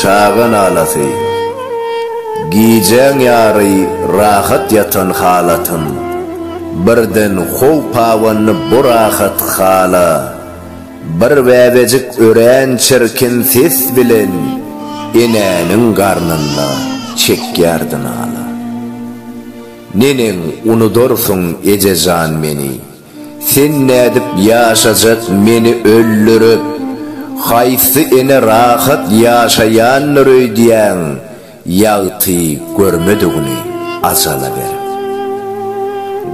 Çaga nalasy. Gijäň ýary rahat ýatan halatym, birden how pawandy bu rahat hala. Bir bäbejik örän çirkin ses bilen enäniň garnynda çekýärdi nala. Neneň unudarsyň ejejan meni. Sen nädip ýaşajak meni öldürip, haýsy ene rahat ýaşaýandyr öýdýäň, ýagty görmedigini ajala berip.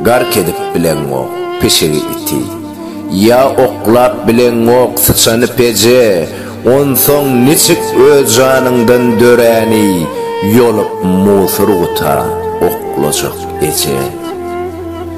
Gark edip bileňok pişigi iti, ýa oklap bileňok syçany peje, onsoň niçik öz janyňdan döräni ýolup musurguta oklajak eje.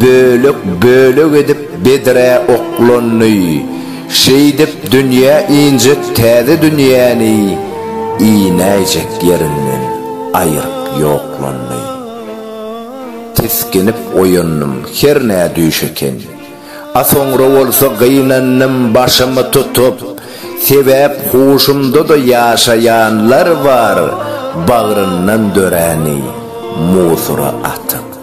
Bölek-bölek edip bedrä oklandy. Şeýdip dünýä injek täze dünýäni inäýjek ýerinden aýryp ýoklandy. Tisginip oýandym, hernä düýş eken. A soňra bolsa gynandym başymy tutup, sebäp huşumda-da ýaşaýanlar bar bagryndan döräni musura atyp.